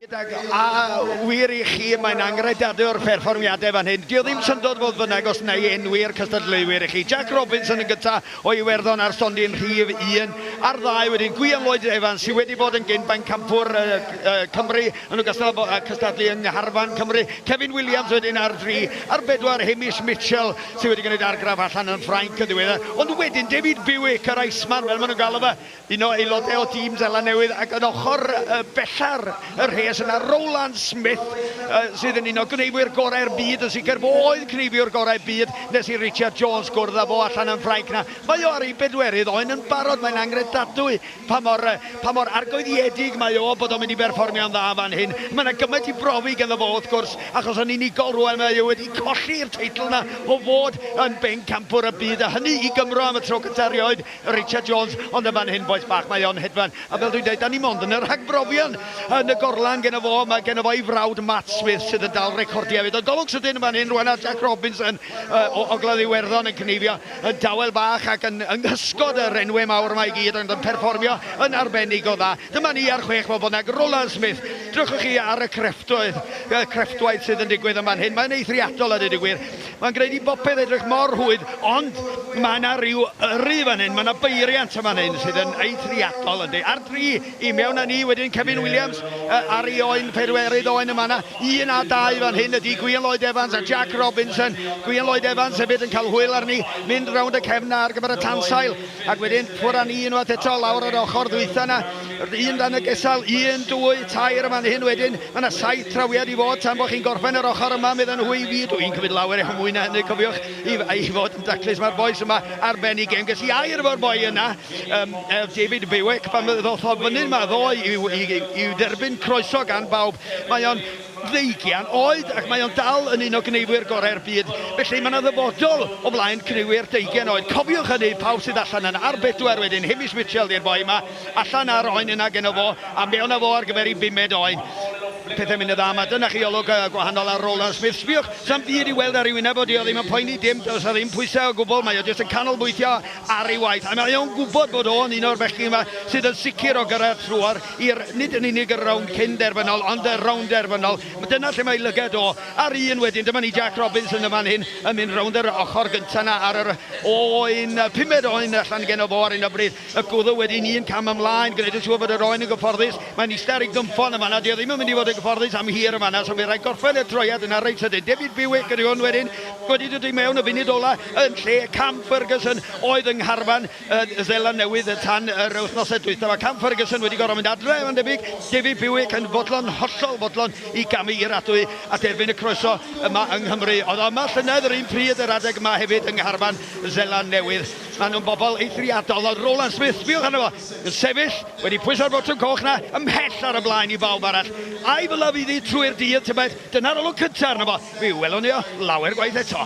A wir i chi, mae'n angredadwr perfformiadau fan hyn. Dio ddim syndod fodd fynnag os neu enwi'r cystadleuwyr i chi. Jack Robinson yn gyntaf o Iwerddon ar stondin rhif 1 a'r ddau wedyn Gwion Lloyd Evans sydd wedi bod yn gyn-bain campwr uh, uh, Cymru yn ogystal â cystadlu yng Ngharfan Cymru. Kevin Williams wedyn ar dri a'r bedwar Hamish Mitchell sydd wedi gwneud argraff allan yn Ffrainc yn ddiweddar, ond wedyn David Bewick, yr Iceman fel maen nhw'n galw fe, un o aelodau o dîm Seland Newydd, ac yn ochr bella'r rhes yna Rowland Smith, sydd yn un o gneifwyr gorau'r byd, yn sicr fo oedd cneifiwr gorau byd nes i Richard Jones gwrdd â fo allan yn Ffrainc 'na. Mae o ar ei bedwerydd oen yn barod, mae'n angredadwy Pa mor, pa mor argoeddiedig mae o bod o'n mynd i berfformio'n dda fan hyn. Mae 'na gymaint i brofi ganddo fo, wrth gwrs, achos yn unigol rŵan mae e wedi colli'r teitl 'na o fod yn bencampwr y byd, a hynny i Gymro am y tro cynta erioed, Richard Jones. Ond yn fan hyn, bois bach, mae o'n hedfan. A fel dwi'n deud, 'dan ni mond yn y rhagbrofion. Yn y gorlan geno fo, mae geno fo ei frawd Matt Smith sydd yn dal recordiau hefyd. Ond golwg sydyn yn fan hyn rŵan ar Jack Robinson o Ogledd Iwerddon yn cneifio y dawel bach ac yn yng nghysgod y renwe mawr yma i gyd ond yn perfformio yn arbennig o dda. Dyma ni ar chwech bobl nag Roland Smith. Drychwch chi ar y crefftwydd, y crefftwaith sydd yn digwydd yn fan hyn. Mae'n eithriadol a dweud y gwir. Mae'n gwneud i bopeth edrych mor rhwydd ond mae yna ryw yrru fan hyn, mae yna beiriant yn fan hyn sydd yn eithriadol yndi. Ar dri. I mewn a ni wedyn Kevin Williams ar ei oen, Pedwerydd oen yn fan'na, un a dau fan hyn ydi Gwion Lloyd Evans a Jack Robinson. Gwion Lloyd Evans hefyd yn cael hwyl arni, mynd rownd y cefn 'na ar gyfer y tansail ac wedyn ffwr a ni unwaith eto lawr yr ochr ddwytha 'na. Un dan y gesail, un, dwy, tair yn fan hyn wedyn. Mae 'na saith trawiad i fod tan bo' chi'n gorffen yr ochr yma, medden nhw i fi. Dwi'n cymryd lawer iawn mwy na hynny cofiwch, i fod yn daclus. Mae'r bois yma ar ben ei gem. Ges i air efo'r boi yna. Yym, er David Bewick, pan ddoth o fyny'n ma ddoe i'w, i'w, i'w derbyn croeso gan bawb, mae o'n ddeugian oed ac mae o'n dal yn un o gneifwyr gorau'r byd. Felly mae yna ddyfodol o flaen cneifwyr deugian oed. Cofiwch hynny, pawb sydd allan yna. Ar bedwar wedyn, Hamish Mitchell di'r boi yma, allan ar oen yna geno fo, a mewn â fo ar gyfer ei bumed oen. Pethau'n mynd yn dda yma. Dyna chi olwg gwahanol ar Roland Smith. Sbïwch, 'sa'm byd i'w weld ar ei wyneb o, 'di o ddim yn poeni dim, does 'na ddim pwysau o gwbl, mae o jyst yn canolbwyntio ar ei waith, a mae o'n gwybod bod o'n un o'r bechgyn yma sydd yn sicr o gyrraedd trwodd i'r, nid yn unig y rownd cyn derfynol, ond y rownd derfynol. Dyna lle mae ei lygad o. A'r un wedyn, dyma ni Jac Robinson yn fan hyn, yn mynd rownd yr ochr gyntaf 'na ar yr oen, pumed oen allan geno fo ar hyn o bryd. Y gwddw wedyn un cam ymlaen, gwneud yn siŵr fod yr oen yn gyfforddus. Mae'n ista ar ei gynffon yn fan'na, 'di o ddim yn mynd i fod yn gyfforddus am hir yn fan'na, so fydd rhaid gorffen y troiad yna reit sydyn. David Bewick ydy hwn wedyn, wedi dod i mewn y funud ola. yn lle Cam Ferguson oedd yng ngharfan y Seland Newydd tan yr wythnosau dwytha. Mae Cam Ferguson wedi gorfod mynd adre mae'n debyg, David Bewick yn fodlon, hollol fodlon i gamu i'r adwy a derbyn y croeso yma yng Nghymru. Oedd o yma llynedd yr un pryd yr adeg yma hefyd yng ngharfan y Seland Newydd. Maen nhw'n bobl eithriadol. Oedd Roland Smith, sbiwch arno fo, yn sefyll wedi pwyso'r botwm coch 'na ymhell ar y blaen i bawb arall. A'i fylaf iddi trwy'r dydd tybed, dyna'r olwg cynta arno fo. Mi welwn ni o lawer gwaith eto.